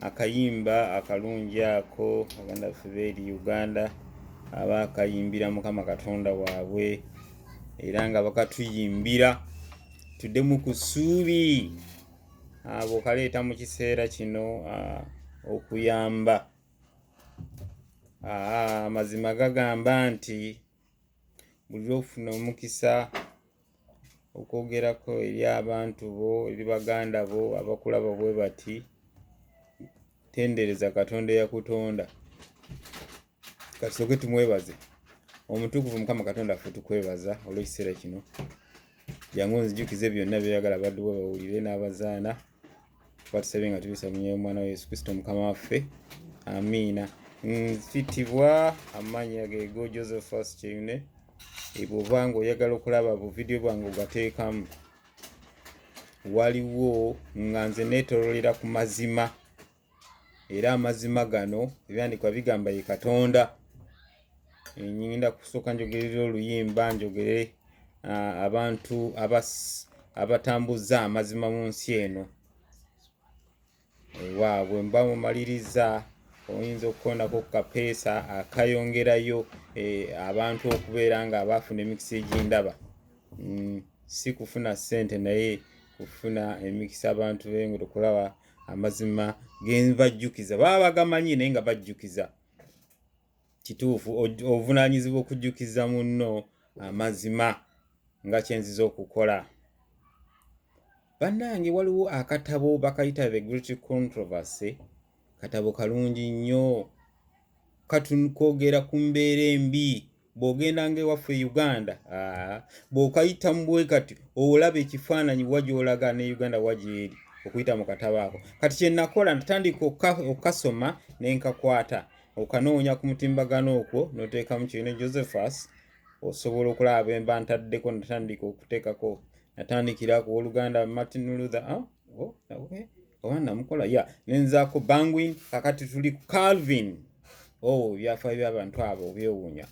akayimba akalungi ako baganda baffe beeri uganda aba akayimbira mukama katonda waabwe era nga bakatuyimbira tuddemu ku ssuubi abo kaleeta mu kiseera kino okuyamba amazima gagamba nti buli lwofuna omukisa okwogerako eri abantu bo eri baganda bo abakulaba bwe bati tendereza katonda eyakutonda kasooke tumwebaze omutukuvu mukama katonda ffe tukwebaza olw'ekiseera kino jangu onzijukize byonna byoyagala badduwa bawulire n'abazaana batusabye nga tubisamunye omwana wa yesu kristo mukama waffe amiina nfitibwa amaanyi agego josephus kyeyune ebwoba nga oyagala okulaba buvidiyo bwange ogateekamu waliwo nga nze netololera ku mazima era amazima gano ebyandikwa bigamba ye katonda ngenda kusooka njogerera oluyimba njogere abantu abatambuza amazima mu nsi eno waabwe mba mumaliriza oyinza okukonako ku kapeesa akayongerayo e, abantu okubeera nga abaafuna emikisa egyendaba mm, si kufuna ssente naye kufuna emikisa abantu bengotokulaba amazima genvajjukiza baba bagamanyi naye nga bajjukiza kituufu obuvunaanyizibwa okujjukiza munno amazima nga kyenziza okukola bannange waliwo akatabo bakayita the great controversy katabo kalungi nnyo katun kwogera ku mbeera embi bw'ogendanga ewaffe e uganda bw'okayita mu bwe kati olaba ekifaananyi wa gy'olaga ne uganda wa gyeri okuyita mu katabo ako kati kye nakola natandika okukasoma ne nkakwata okanoonya ku mutimbagano okwo n'oteekamu kirina josephus osobola okulaba bemba ntaddeko natandika okuteekako natandikira ku oluganda martin luther ah? oh, okay. oba namukola ya nenzaako bangwin kakati tuli ku calvin o oh, ebyafaayo byabantu abo obyewuunya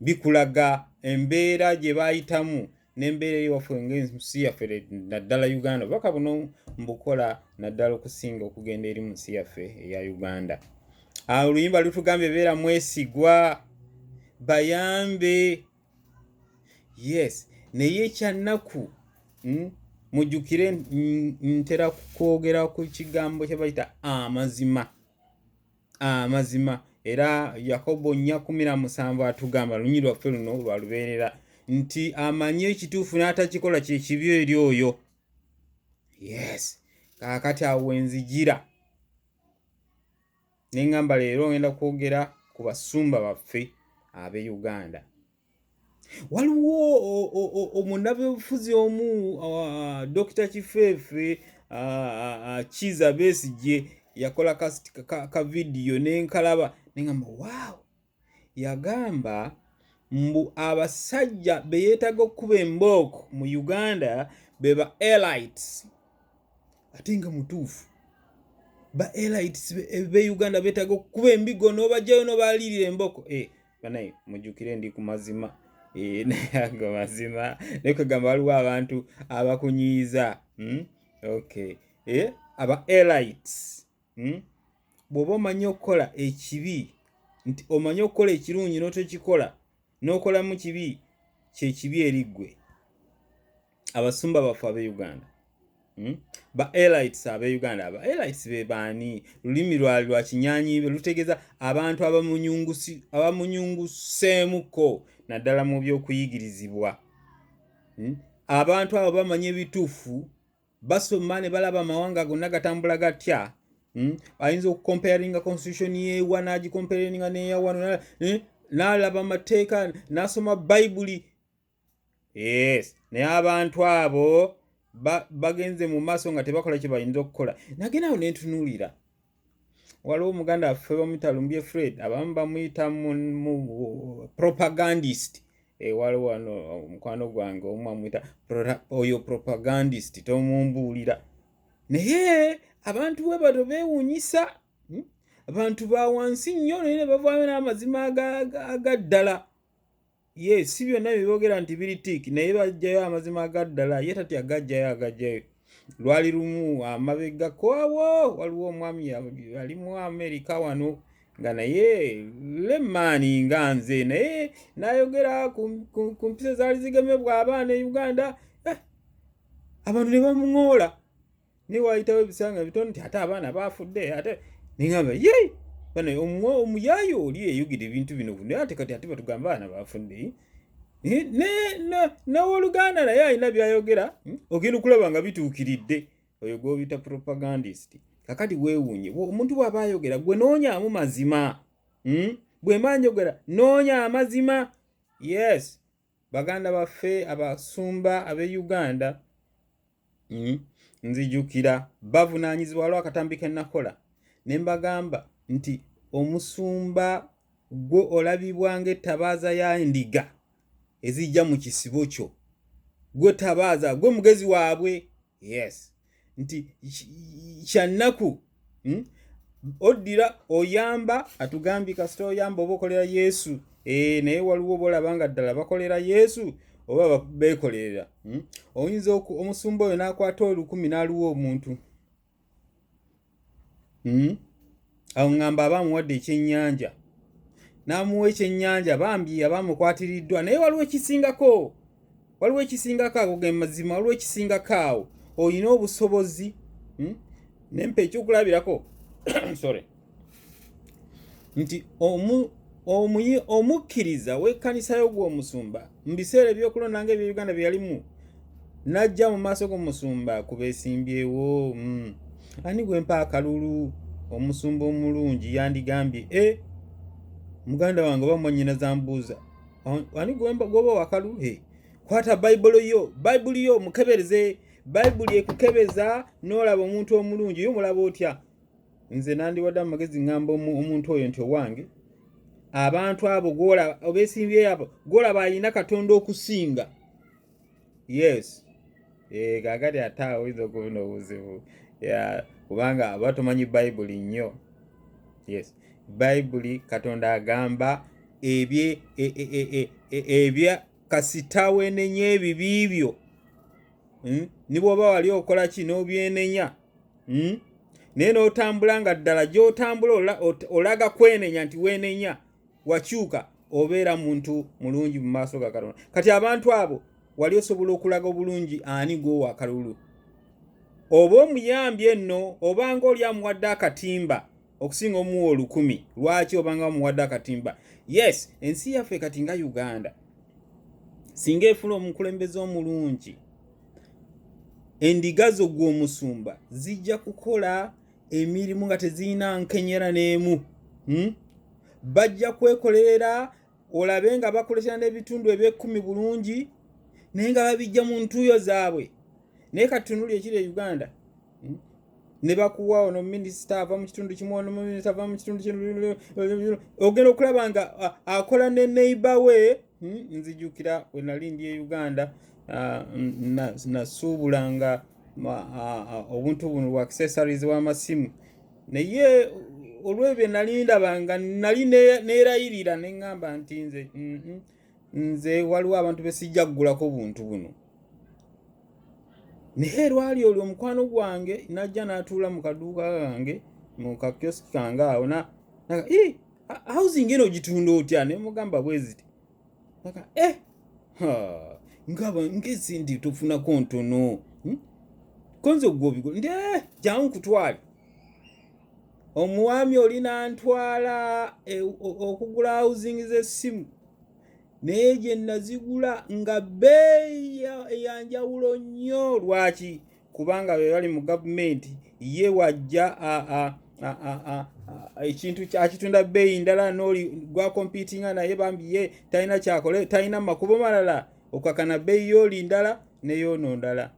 bikulaga embeera gye bayitamu nembeera eri waffe ngaensi yaffe naddala uganda obubaka buno mbukola naddala okusinga okugenda eri mu nsi yaffe eya uganda oluyimba lutugambye beera mwesigwa bayambe yes naye ekyannaku hmm, mujjukire ntera kwogera ku kigambo kyebayita amazima amazima era yakobo nnya kumi na musanvu atugamba lunyini lwaffe luno lwa lubeerera nti amanyi ekituufu n'atakikola kyekibi eri oyo yes kaakati awo wenzijira nengamba leero ngenda kwogera ku basumba baffe abe uganda waliwo omunabyobufuzi omu dokita kifeefe kiza besigye yakola kavidiyo nenkalaba nengamba waawo yagamba mbu abasajja be yeetaaga okukuba embooko mu uganda be ba elites ate nga mutuufu ba elites be eh, uganda beetaaga okukuba embigo n'obajjayo n'obaalirira embooko e eh, banaye mujjukire ndi ku mazima eh, naye ago mazima naye kwegamba waliwo abantu abakunyiiza hmm? okay aba elites hmm? bw'oba omanyi okukola ekibi nti omanyi okukola ekirungi n'otokikola n'okolamu kibi kyekibi eri ggwe abasumba baffe ab'e uganda hmm? ba elites ab'e uganda aba elites be baani lulimi lwali lwa kinyanyiibe lutegeeza abantu abamunyunguseemuko naddala mu by'okuyigirizibwa hmm? abantu abo bamanyi ebituufu basoma ne balaba amawanga gonna gatambula gatya hmm? ayinza okukomparinga constitution yewa nagikomparinga neyawano eh? nalaba amateeka nasoma bayibuli yes naye abantu abo bagenze mu maaso nga tebakola kyebayinza okukola nagenawo nentunuulira waliwo muganda waffe bamuyita lumbye fred abamu bamuyita mu propagandist eh, waliwo wano omukwano gwange omu amuyita oyo propagandist tomumbuulira naye abantu we bato bewunyisa hmm? abantu ba wansi nnyo naye ne bavaayo n'amazima agaddala aga ye si byonna bye boogera nti biri tiiki naye baggyayo amazima agaddala ye tati agaggyayo agaggyayo lwali lumu amabega kwawo waliwo omwami yali mu amerika wano nga naye lemaani nga nze naye nayogera ku mpisa zaali zigemebwa abaana e uganda eh, abantu ne bamuŋoola naye waayitawo ebisanga bitoni nti ate abaana baafudde ate neŋamba ye bana omuyaayi oli eyogera ebintu bino buno ate kati ate batugamba abaana baafudde newoluganda naye alina byayogera hmm? ogenda okulaba nga bituukiridde oyo gwobita propagandist kakati weewuunye omuntu bw'aba ayogera gwe noonyamu mazima hmm? bwemba njogera noonya amazima yes baganda baffe abasumba ab'e uganda mm, nzijukira bavunaanyizibwa waliwo akatambi ke nakola ne mbagamba nti omusumba gwo olabibwa ng'ettabaaza ya ndiga ezijja mu kisibo kyo gwe tabaaza gwe mugezi waabwe yes nti kyannaku hmm? oddira oyamba atugambye kasita oyamba oba okolera yesu ee eh, naye waliwo bolaba nga ddala bakolera yesu oba beekolerera hmm? oyinza omusumba oyo n'akwata olukumi n'aluwa omuntu hmm? awo ŋŋamba aba amuwadde ekyennyanja n'amuwa ekyennyanja bambi aba amukwatiriddwa naye waliwo ekisingako waliwo ekisingako ago ge mazima waliwo ekisingako awo olina obusobozi hmm? nempa ekyokulabirako sorry nti omu omuyi omukkiriza w'ekkanisa yo gw'omusumba mu biseera ebyokulonda nga ebyo uganda bye yalimu n'ajja mu maaso g'omusumba ku beesimbyewo mm. ani gwe mpa akalulu omusumba omulungi yandigambye e eh, muganda wange oba mwanyina zambuuza ani gwoba wakalu e kwata bayibuli yo bayibuli yo mukebereze bayibuli ekukebeza n'olaba omuntu omulungi yo mulaba otya nze nandiwadde amagezi ŋŋamba omuntu oyo nti owange abantu abo obesimbyeyo abo golaba alina katonda okusinga yes eh, gagati ate oyinza okubuna obuzibu kubanga aba tomanyi bayibuli nnyo yes bayibuli katonda agamba ebye e, e, e, ebya kasita wenenya ebibi byo hmm? nibwoba wali okola ki nobyenenya hmm? naye n'otambula nga ddala gy'otambula olaga kwenenya nti weenenya wakyuka obeera muntu mulungi mu maaso ga katonda kati abantu abo wali osobola okulaga obulungi ani gwowa akalulu oba omuyambye nno obanga oli amuwadde akatimba okusinga omuwa olukumi lwaki obanga bamuwadde akatimba yes ensi yaffe kati nga uganda singa efuna omukulembeze omulungi endiga zo gw'omusumba zijja kukola emirimu nga tezirina nkenyera n'emu hmm? bajja kwekolerera olabe nga bakoletera n'ebitundu eby'ekkumi bulungi naye nga babijja mu ntuuyo zaabwe naye katunuli ekiri e uganda hmm? ne bakuwa ono minisita ava mu kitundu kimu ono minisita ava mu kitundu kino ogenda okulaba nga akola ne neighbor we hmm, nzijukira wenali ndi e uganda nasuubula nga obuntu buno bwa accessories w'amasimu naye olwebyo nali ndaba nga nali neerayirira ne ŋŋamba nti nze mm-hmm. nze waliwo abantu besijja kugulako buntu buno naye lwali olwo omukwano gwange najja n'atuula mu kaduuka kange mu kakyoski kange awo housing eno ogitunda otya ne mugamba bweziti aga eh ngaba ngezindi tofunako ntono hmm? konze ogwobigo nde eh, jangu kutwali omwami oli nantwala e, okugula housing z'essimu naye gye nazigula nga bbeeyi eyanjawulo nnyo lwaki kubanga be bali mu gavumenti ye wajja ekintu akitunda bbeeyi ndala nooli gwakompitinga naye bambi ye talina kyakole talina makubo malala okakana bbeeyi yooli ndala neyoono ndala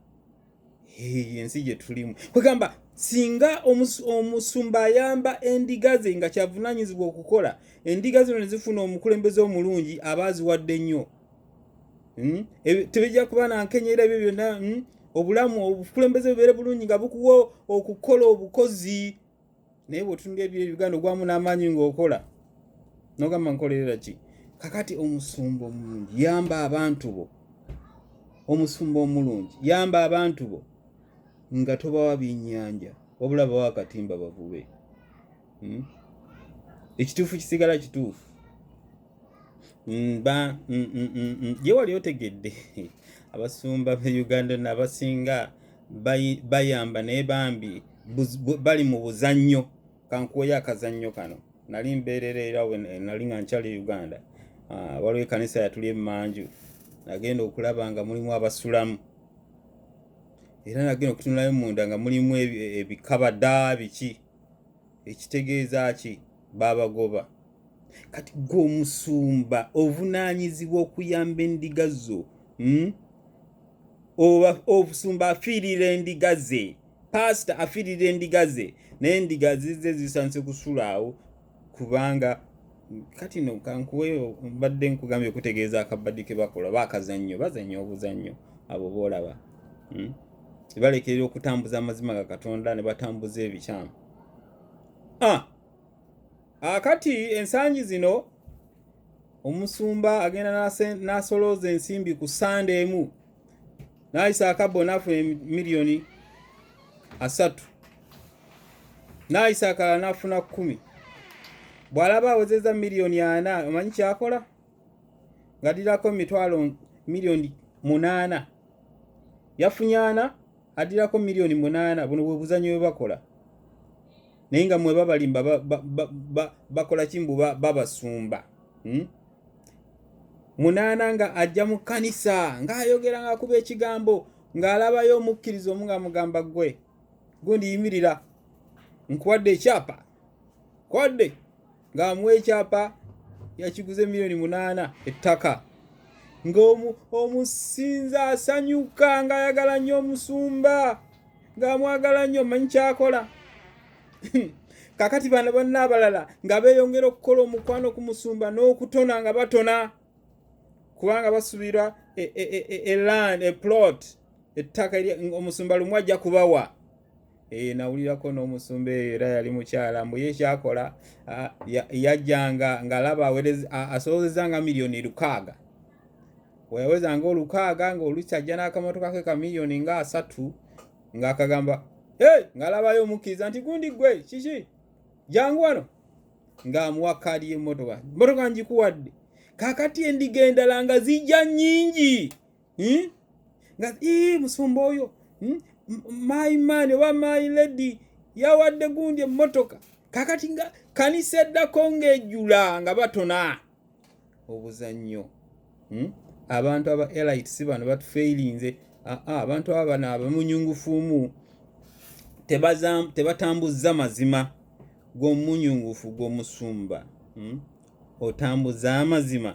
ensi gyetulimu kwegamba singa omusumba ayamba endiga ze nga kyavunanyizibwa okukola endiga zino nezifuna omukulembeze omulungi aba aziwadde nnyo hmm? tebijja kuba nankenyera ebyo byonna hmm? obulamu obukulembeze bubeere bulungi nga bukuwa okukola obukozi naye bwotunula ebiro ebiganda ogwamu n'amaanyi ng'okola nogamba nkolerera ki kakati omusumba omulungi yamba abantu bo omusumba omulungi yamba abantu bo nga tobawa byennyanja wabula bawa akatimba bavube hmm? ekituufu kisigala kituufu mm, mm, gye wali otegedde abasumba be uganda nabasinga bayamba naye bambi bali mu buzannyo kankuweyo akazannyo kano nali mbeerera era eh, nali nga nkyali uganda ah, waliwo ekanisa yatuli emanju nagenda okulaba nga mulimu abasulamu era nagenda okutunulayo munda nga mulimu ebikabada biki ekitegeeza ki baabagoba kati gwe omusumba ovunaanyizibwa okuyamba endiga zo hmm? obusumba afiirira endiga ze paasita afiirira endiga ze naye endiga zizze zisandise kusulaawo kubanga kati no kankuweyo mbadde nkugambye okutegeeza akabadi ke bakola bakazannyo bazannya obuzannyo abo boolaba hmm? balekerera okutambuza amazima ga katonda ne batambuza ebikyamu ah! akati ah, ensangi zino omusumba agenda n'asolooza ensimbi ku sande emu naayisa akabbo nafuna miliyoni asatu naayisa akalala nafuna kumi bw'alaba awezeza miliyoni ana omanyi kyakola ng'addirako mitwalo miliyoni munaana yafunye ana addirako miliyoni munaana buno bwe buzanyo bwe bakola naye nga mwe babalimba bakola kimbu babasumba hmm? munaana nga ajja mu kkanisa ng'ayogera ng'akuba ekigambo ng'alabayo omukkiriza omu nga mugamba ggwe gundi yimirira nkuwadde ekyapa kwadde ng'amuwa ekyapa yakiguze miliyoni munaana ettaka ng'omusinza asanyuka ng'ayagala nnyo omusumba ng'amwagala nnyo manyi kyakola kakati bano banna abalala nga beeyongera okukola omukwano ku musumba n'okutona nga batona kubanga basubira eland e, e, e, eplot ettaka omusumba lumu ajja kubawa eyo nawulirako n'omusumba eyo era yali mukyala mbu ye kyakola yajjanga ngaalaba asobozeza nga miliyoni lukaaga weyawezanga olukaaga ngaolukyajja n'akamotoka ke ka miliyoni nga asatu ng'akagamba hey! ng'alabayo omukkiriza nti gundi gwe kiki jangu wano ng'amuwa kaadi y'emmotoka mmotoka ngikuwadde kakati endiga endala nga zijja nnyingi hmm? nga ii musumba oyo hmm? my man oba my lady yawadde gundi emmotoka kakati nga kanisa eddako ng'ejula nga batona obuzannyo hmm? abantu aba elite si bano batufeilinze abantu aba bano abamunyungufumu tebatambuzza mazima gwomunyungufu gwomusumba hmm? otambuza amazima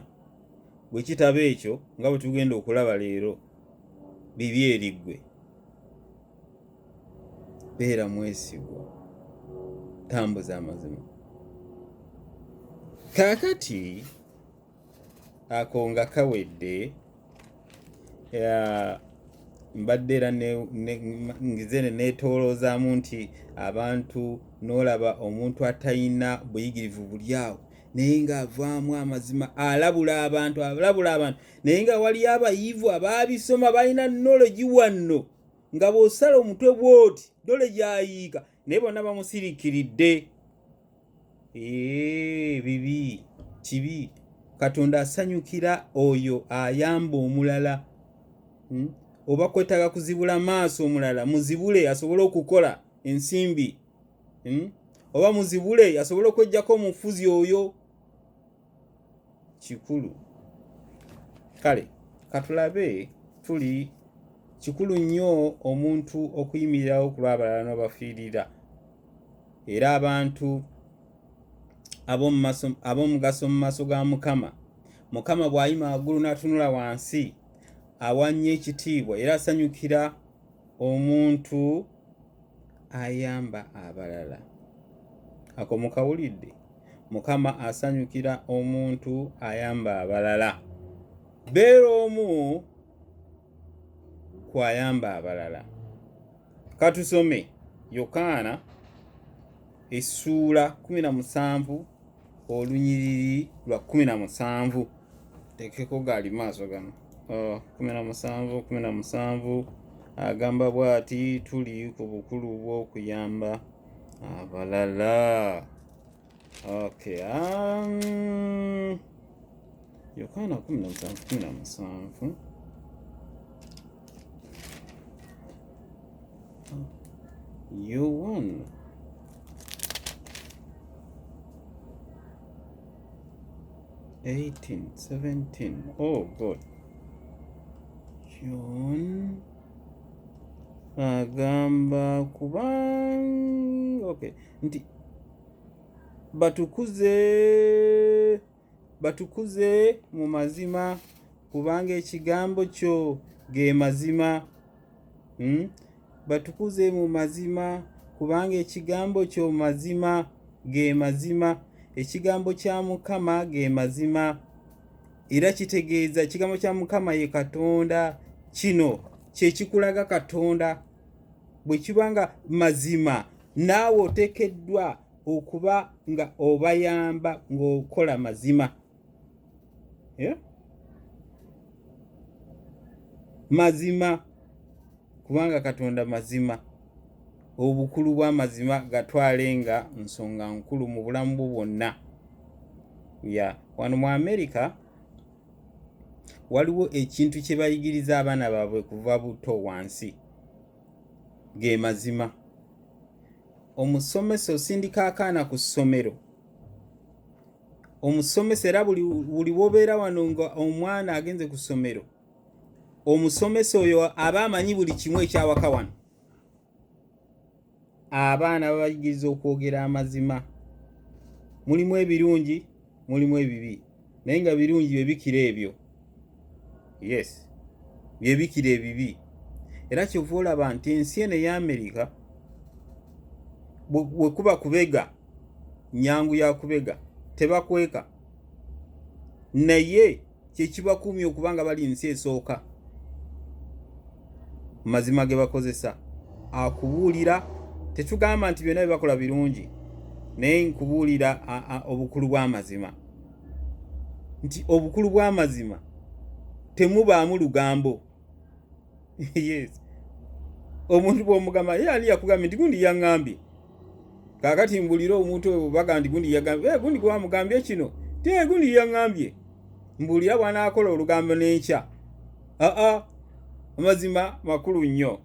bwe kitaba ekyo nga bwe tugenda okulaba leero bibi eriggwe beera mwesigwa tambuza amazima kaakati ako nga kawedde mbadde era ngizene neetooloozaamu nti abantu n'olaba omuntu atalina buyigirivu buli awo naye ng'avaamu amazima alabula abantu alabula abantu naye nga waliyo abayivu abaabisoma balina nologi wanno nga bw'osala omutwe bw'oti dole gyayiika naye bonna bamusirikiridde bibi kibi katonda asanyukira oyo ayamba omulala hmm? oba kwetaaga kuzibula maaso omulala muzibule asobole okukola ensimbi hmm? oba muzibule asobole okwejjako omufuzi oyo kikulu kale katulabe tuli kikulu nnyo omuntu okuyimirirawo ku lw'abalala n'obafiirira era abantu ab'omugaso mu maaso ga mukama mukama bw'ayima waggulu n'atunula wansi awannye ekitiibwa era asanyukira omuntu ayamba abalala ako mukawulidde mukama asanyukira omuntu ayamba abalala beera omu ku ayamba abalala katusome yokaana essuula 17 olunyiriri lwa kumi na musanvu tekeko gaali maaso gano oh, kumi na musanvu kumi na musanvu agamba bwati tuli ku bukulu bw'okuyamba abalala okay um, yokaana kumi na musanvu kumi na musanvu You won. Eighteen, seventeen. Oh, good. John agamba kubanga okay nti batukuze batukuze mu mazima kubanga ekigambo kyo ge mazima hmm? batukuze mu mazima kubanga ekigambo kyo mazima ge mazima ekigambo kya mukama ge mazima era kitegeeza ekigambo kya mukama ye katonda kino kyekikulaga katonda bwe kiba nga mazima naawe otekeddwa okuba nga obayamba ng'okola mazima eh? mazima kubanga katonda mazima obukulu bw'amazima gatwale nga nsonga nkulu mu bulamu bwo bwonna ya wano mu amerika waliwo ekintu kye bayigiriza abaana baabwe kuva buto wansi ge mazima omusomesa osindika akaana ku ssomero omusomesa era buli wobeera wano nga omwana agenze ku ssomero omusomesa oyo aba amanyi buli kimu ekyawaka wano abaana babayigiriza okwogera amazima mulimu ebirungi mulimu ebibi naye nga birungi byebikira ebyo yes byebikira ebibi era kyova olaba nti ensi eno eya amerika wekuba kubega nyangu yakubega tebakweka naye kyekibakuumye okuba nga bali nsi esooka mazima ge bakozesa akubuulira tetugamba nti byonna byebakola birungi naye nkubuulira obukulu bw'amazima nti obukulu bw'amazima temubaamu lugambo yes omuntu bwomugamba ye ani yakugambye nti gundi yaŋambye kakati mbulire omuntu oyo baga nti gundi yagambye eh, gundi gwamugambye kino te gundi yaŋambye mbulira bwanaakola olugambo n'enkya aa amazima makulu nnyo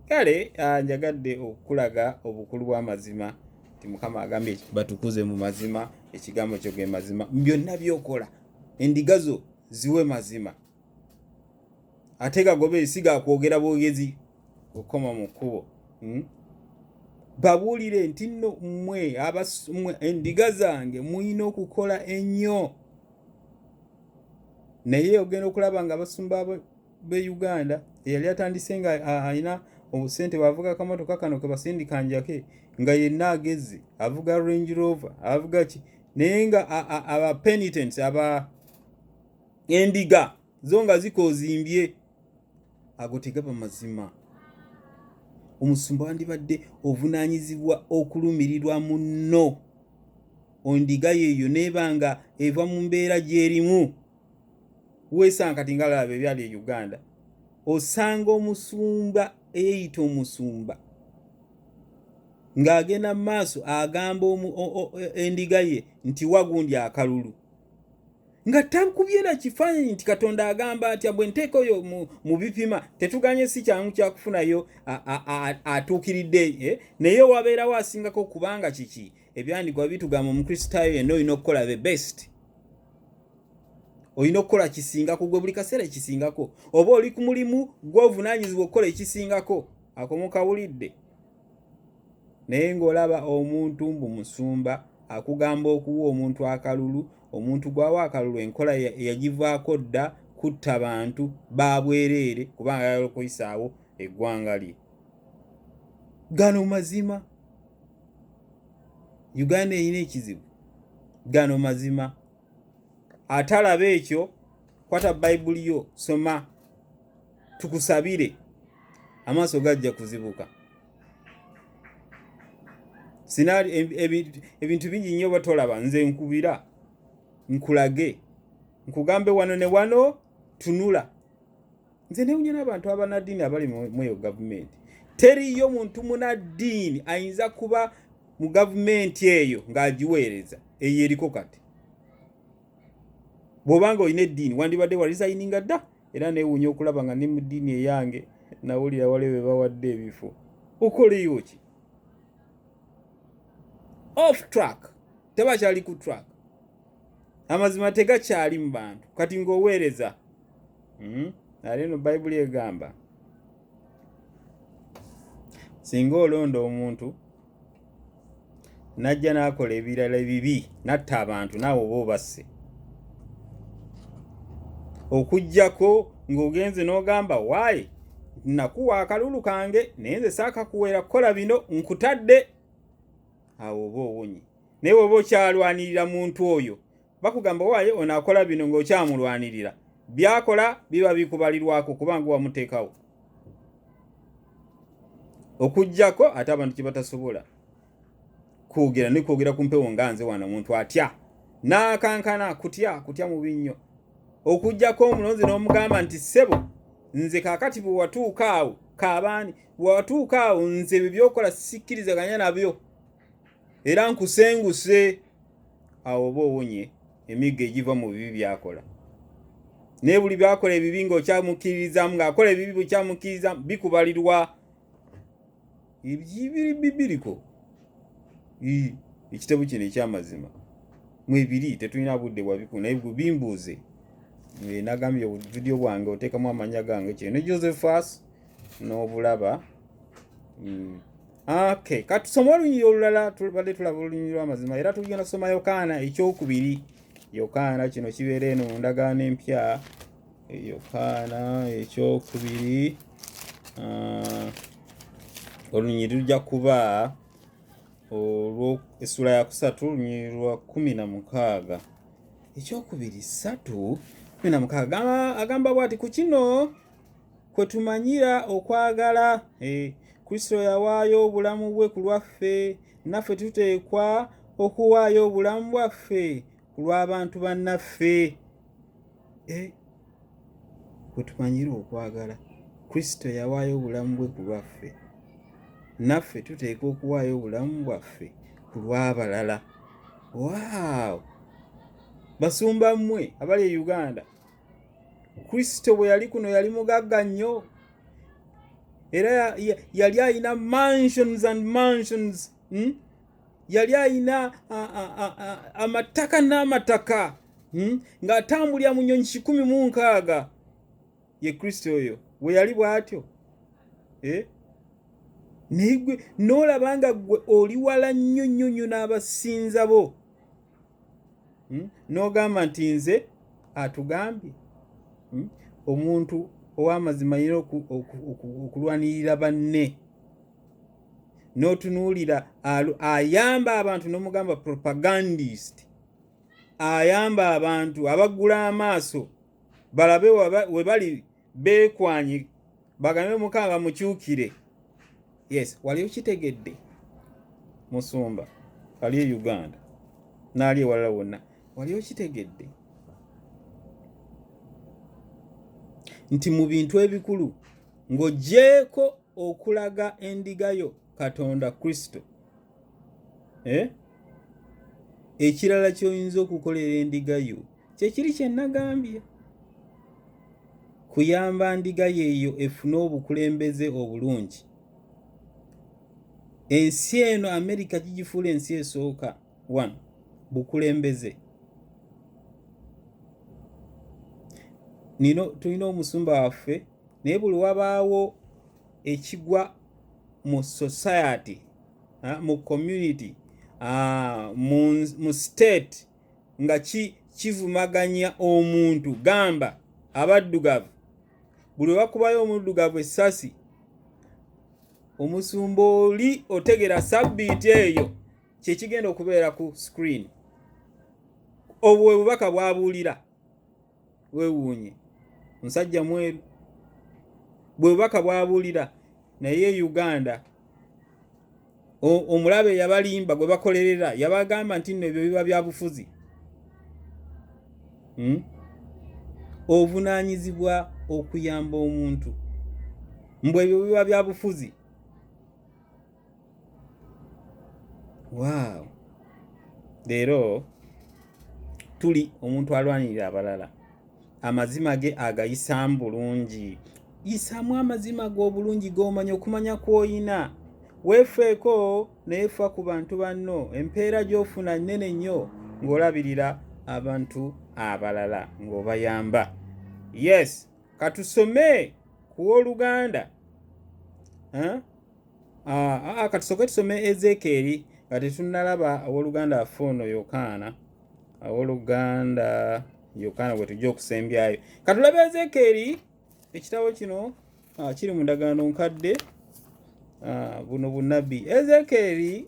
kale ah, njagadde okukulaga obukulu bw'amazima nti mukama agambye batukuze mu mazima ekigambo kyo ge mazima byonna byokola endiga zo ziwe mazima ate gagoba ensi gakwogera bwogezi okukoma mu kkubo hmm? babuulire nti nno mmwe abamwe endiga zange mulina okukola ennyo naye ogenda okulaba nga abasumba be uganda eyali atandise nga alina obusente bwavuga akamotoka kano kebasindika njake nga yenna agezi avuga range rover avuga ki naye nga abapenitents aba endiga zo nga zikoozimbye ago tegaba mazima omusumba wandibadde ovunaanyizibwa okulumirirwa munno ondiga yeeyo neeba nga eva mu mbeera gyerimu weesanga kati nga laba ebyali e uganda osanga omusumba eyeeyita omusumba ng'agenda mu maaso agamba endiga ye nti wagundi akalulu nga tankubye na kifaananyi nti katonda agamba atya bwe nteeka oyo mu bipima tetuganye si kyangu kyakufunayo atuukiridde eh? naye wabeerawo asingako kubanga kiki ebyandigwa bitugamba omukristaayo yenna olina okukola the best olina okukola kisingako gwe buli kaseera ekisingako oba oli ku mulimu gwovunanyizibwa okukola ekisingako akomukawulidde naye ng'olaba omuntu mbu musumba akugamba okuwa omuntu akalulu omuntu gwawa akalulu enkola yagivaako dda kutta bantu babwereere kubanga yala okuyisaawo eggwanga lye gano mazima uganda erina ekizibu gano mazima atalaba ekyo kwata bayibuli yo soma tukusabire amaaso gajja kuzibuka sinaali ebintu bingi nnyo batolaba nze nkubira nkulage nkugambe wano ne wano tunula nze newunya n'abantu abanaddiini abali mweyo gavumenti teriyo muntu munaddiini ayinza kuba mu gavumenti eyo ng'agiweereza eyo eriko kati bw'obanga olina eddiini wandibadde warizayininga dda era neewuunya okulaba nga ne mu ddiini eyange nawulira wali be bawadde ebifo okoleyo ki off track tebakyali ku track amazima tegakyali mu bantu kati ng'oweereza hmm? ate no bayibuli egamba singa olonda omuntu najja n'akola ebirala ebibi natta abantu naawe oba obasse okugyako ng'ogenze n'ogamba waayi nakuwa akalulu kange naye nze saakakuweera kukola bino nkutadde awo oba owonye naye woba okyalwanirira muntu oyo bakugamba waaye ono akola bino ng'okyamulwanirira byakola biba bikubalirwako kubanga wamuteekawo okugyako ate abantu kyebatasobola kwogera nekwogera ku mpewo nga nze wano omuntu atya n'akankana kutya kutya mubi nnyo okugyako omulonzi n'omugamba nti ssebo nze kakati bwewatuuka awo kabaani bwewatuuka awo nze ebyo byokola sikkirizaganya nabyo era nkusenguse awo oba owonye emigga egiva mu bibi byakola naye buli byakola ebibi ngaokyamukkiririzaamu ngaakola ebibi bukyamukkiririzaamu bikubalirwa ebyibiri bibiriko ekitabo kino ekyamazima mwebiri tetulina budde bwabiku naye bimbuuze nagambye obuvidiyo bwange oteekamu amanya gange kino ne josephus n'obulaba mm. Okay, katusoma olunyiriri olulala tulubadde tulaba olunyiriri lw'amazima era tugenda kusoma Yokaana ekyokubiri. Yokaana kino kibeera eno mu ndagaano empya. Yokaana ekyokubiri ah, olunyiriri lujja kuba olwo essula ya kusatu olunyiriri lwa kumi na mukaaga ekyokubiri satu kumi na mukaaga agamba bwati ku kino kwe tumanyira okwagala eh, kristo yawaayo obulamu bwe ku lwaffe naffe tuteekwa okuwaayo obulamu bwaffe ku lw'abantu bannaffe eh, kwe tumanyira okwagala kristo yawaayo obulamu bwe ku lwaffe naffe tuteekwa okuwaayo obulamu bwaffe ku lw'abalala waawo basumba mmwe abali e uganda kristo bwe yali kuno yali mugagga nnyo era yali alina mansions and mansions hmm? yali alina amataka n'amataka hmm? ng'atambulira mu nnyonyi kikumi mu nkaaga ye kristo oyo we yali bw'atyo eh? naye gwe n'olaba nga gwe oli wala nnyo nnyo nnyo n'abasinza bo hmm? n'ogamba nti nze atugambye hmm? omuntu ow'amazima yina okulwanirira banne n'otunuulira ayamba abantu n'omugamba propagandist ayamba abantu abaggula amaaso balabe we bali beekwanyi bagambe mukama bamukyukire yes wali okitegedde musumba ali e uganda naali ewalala wonna wali okitegedde nti mu bintu ebikulu ng'ogyeko okulaga endiga yo katonda kristo eh? ekirala kyoyinza okukolera endiga yo kyekiri kyenagambye kuyamba ndiga yeeyo efune obukulembeze obulungi ensi eno amerika gigifuula ensi esooka one bukulembeze nino tulina omusumba waffe naye buli wabaawo ekigwa mu society uh, mu community uh, mu, mu state nga ki kivumaganya omuntu gamba abaddugavu buli bakubayo omuddugavu essasi omusumba oli otegera sabbiiti eyo kyekigenda okubeera ku screen obwo bwe bubaka bwabuulira wewuunye musajja mweru bwe bubaka bwabuulira naye uganda omulabe yabalimba gwe bakolerera yabagamba nti nno ebyo biba byabufuzi hmm? obuvunaanyizibwa okuyamba omuntu mbu ebyo biba byabufuzi waaw leero tuli omuntu alwanirira abalala amazima ge agayisaamu bulungi yisaamu amazima g'obulungi g'omanya okumanya kw'oyina weefeeko naye fa ku bantu banno empeera gy'ofuna nnene nnyo ng'olabirira abantu abalala ng'obayamba yes katusome ku w'oluganda Ah, ah, ah, katusoke tusome ezekeeri nga tetunnalaba awoluganda afe ono yokaana awoluganda yokaana gwe tujja okusembyayo katulabe ezekeeri ekitabo kino ah, kiri mu ndagaano nkadde buno bunabbi ezekeeri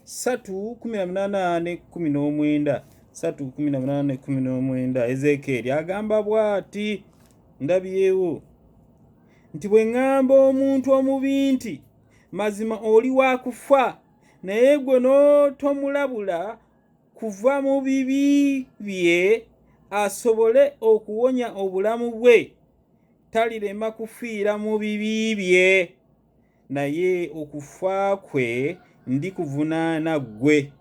satu kumi na munaana ne kumi n'omwenda satu kumi na munaana ne kumi n'omwenda ezekeeri agamba bwati ndabyewo nti bwe ŋŋamba omuntu omubi nti mazima oli wa kufa naye gwe n'otomulabula kuva mu bibi bye asobole okuwonya obulamu bwe talirema kufiira mu bibi bye naye okufa kwe ndi kuvunaana ggwe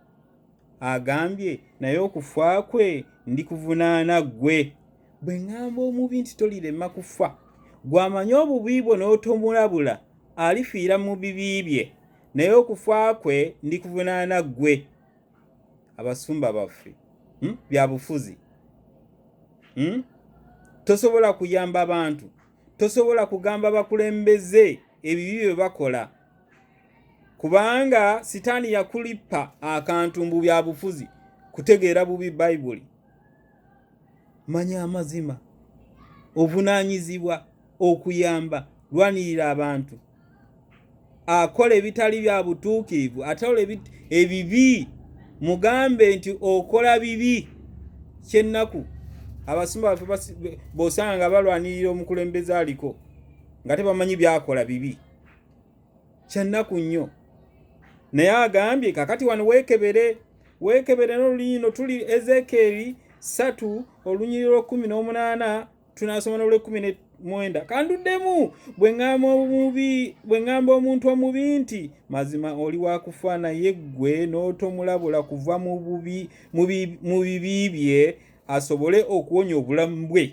agambye naye okufa kwe ndi kuvunaana ggwe bwe ŋŋamba omubi nti tolirema kufa gw'amanyi obubi bwo n'otomulabula alifiira mu bibi bye naye okufa kwe ndi kuvunaana ggwe abasumba baffe hmm? bya bufuzi hmm? tosobola kuyamba bantu tosobola kugamba bakulembeze ebibi bye bakola kubanga sitaani yakulippa akantu mbu bya bufuzi kutegeera bubi bayibuli manya amazima ovunaanyizibwa okuyamba lwanirira abantu akola ebitali bya butuukiivu ataola ebibi mugambe nti okola bibi kyennaku abasimba baffe bosanga nga balwanirira omukulembeze aliko nga tebamanyi byakola bibi kyennaku nnyo naye agambye kakati wano weekebere weekebere n'olunyino tuli ezekeeri satu olunyiriro kumi n'omunaana tunasoma nolwekumi nemwenda kanduddemu bwe ŋŋamba omuntu omubi nti mazima oli wakufa naye ggwe n'otomulabula kuva mu bibi bye asobole okuwonya obulamu bwe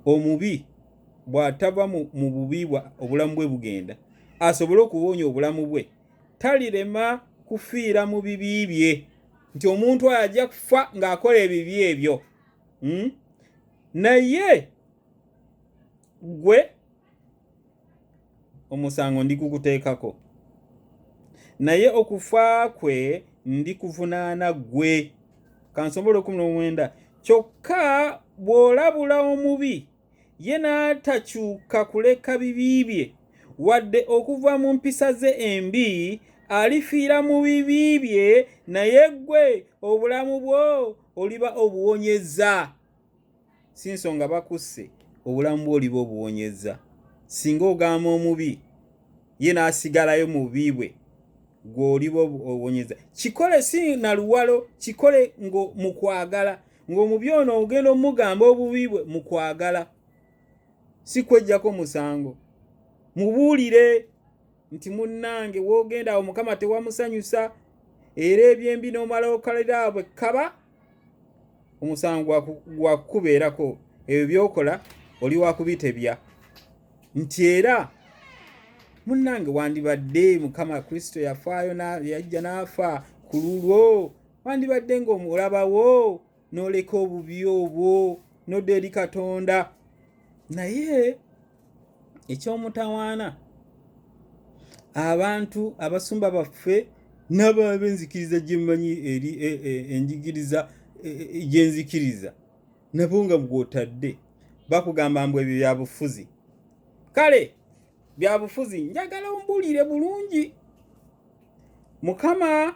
omubi bw'atava mu bubi obulamu bwe bugenda asobole okuwonya obulamu bwe talirema kufiira mu bibi bye nti omuntu oyo ajja kufa ng'akola ebibi ebyo hmm? naye gwe omusango ndi kukuteekako naye okufa kwe ndi kuvunaana gwe kansobole okumna omwenda kyokka bw'olabula omubi ye n'atakyuka kuleka bibi bye wadde okuva mu mpisa ze embi alifiira mu bibi bye naye ggwe obulamu bwo oliba obuwonyezza si nsonga bakusse obulamu bwo oliba obuwonyezza singa ogamba omubi ye n'asigalayo mu bubi bwe gw'oliba obuwonyezza kikole si naluwalo kikole mu kwagala ng'omubi ono ogenda omugamba obubi bwe mu kwagala si kwejjako musango mubuulire nti munnange woogenda awo mukama tewamusanyusa era ebyembi n'omala okalira bwe kaba omusango gwakukubeerako ebyo byokola oli wakubitebya nti era munnange wandibadde mukama kristo yafaayo yajja n'afa ku lulwo wandibadde ng'omulabawo n'oleka obubi obwo nodda eri katonda naye eky'omutawaana abantu abasumba baffe n'ababenzikiriza gye mmanyi eri e, e, enjigiriza e, gyenzikiriza nabo nga gwotadde bakugamba mbu ebyo byabufuzi kale byabufuzi njagala ombuulire bulungi mukama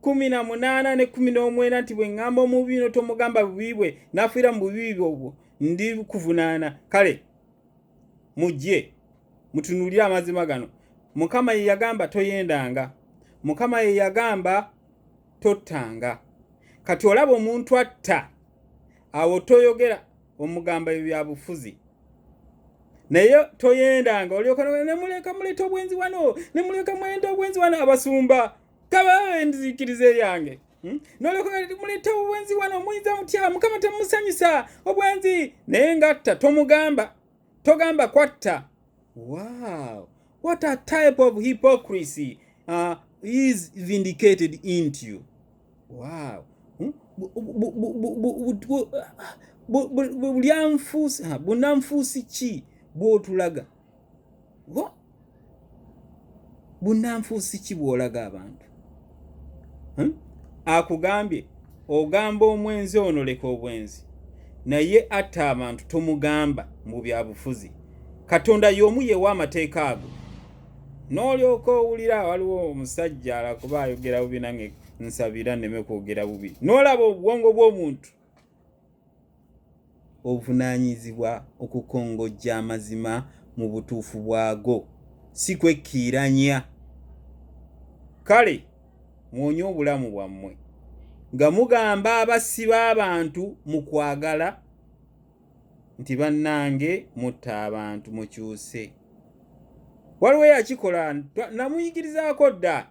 kumi na munaana ne kumi n'omwenda nti bwe ŋŋamba omubi bino tomugamba bubi bwe n'afiira mu bubi bwe obwo ndi kuvunaana kale mujje mutunuulire amazima gano mukama ye yagamba toyendanga mukama ye yagamba tottanga kati olaba omuntu atta awo toyogera omugamba ebyo byabufuzi naye toyendanga olyoka nemuleka muleta obwenzi wano nemuleka mwenda obwenzi wano abasumba kabawe enzikiriza eyange hmm? nolyoka ti muleeta obwenzi wano muyinza mutya mukama temusanyusa obwenzi naye ngatta tomugamba togamba kwatta wow what a type of hypocrisy uh, is vindicated into you wow hmm? bulyanfuusi bunanfuusi ki bwotulaga wa bunanfuusi ki bwolaga abantu hmm? akugambye ogamba omwenzi ono leka obwenzi naye atta abantu tomugamba mu byabufuzi katonda y'omu yewa amateeka ago n'olyoka owulira waliwo omusajja alakuba ayogera bubi nange nsabira neme kwogera bubi n'olaba obwongo bw'omuntu obuvunaanyizibwa okukongojja amazima mu butuufu bwago si kwekkiiranya kale mwonye obulamu bwammwe nga mugamba abassi b'abantu mu kwagala nti bannange mutta abantu mukyuse waliwo yakikola namuyigirizaako dda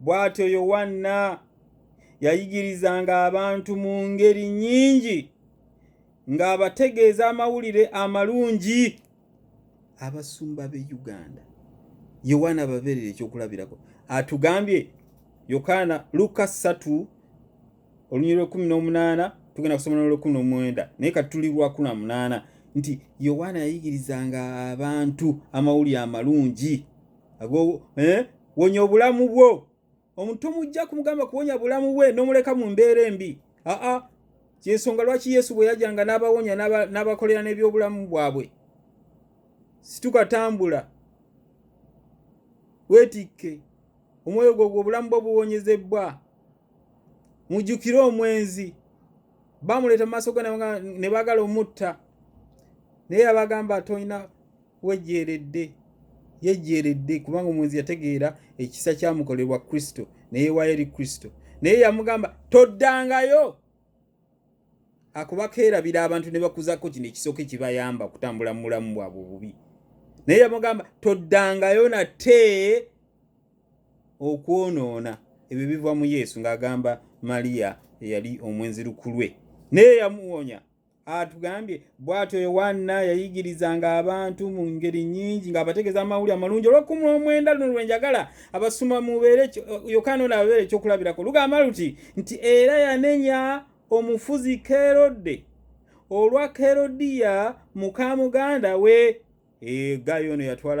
Bw'atyo Yowanna yayigirizanga abantu mu ngeri nnyingi ng'abategeeza amawulire amalungi abasumba b'e Uganda. Yowanna ababeerera ekyokulabirako atugambye Yokaana Luka ssatu olunyiri lw'ekkumi n'omunaana tugenda kusoma n'olw'ekkumi n'omwenda naye kati tuli lwakumi na munaana nti Yowanna yayigirizanga abantu amawulire amalungi. eh, wonya obulamu bwo omuntu tomujja kumugamba kuwonya bulamu bwe nomuleka mu mbeera embi aa kyensonga lwaki yesu bwe yajanga n'abawonya n'abakolera n'ebyobulamu bwabwe situkatambula weetikke omwoyo gwo gwe obulamu bwo buwonyezebbwa mujjukire omwenzi bamuleeta mu maaso go ne baagala omutta naye yabagamba tolina wejjeeredde yejjeeredde kubanga omuwenzi yategeera ekisa kyamukolerwa kristo neyewayo eri kristo naye yamugamba toddangayo akuba keerabira abantu ne bakuzako kino ekisooka ekibayamba okutambula mu bulamu bwabwe obubi naye yamugamba toddangayo nate okwonoona ebyo biva mu yesu ng'agamba mariya eyali omwenzi lukulwe naye yamuwonya atugambye bwatyo yowaana yayigirizanga abantu mu ngeri nyingi ng'abategeeza amawuli amalungi olw'ekkumi omwenda luno lwenjagala abasoma mubeere yokaana ono ababeere ekyokulabirako lugamba luti nti era yanenya omufuzi kerodde olwa kerodiya mukamuganda we egayo eh, ono yatwala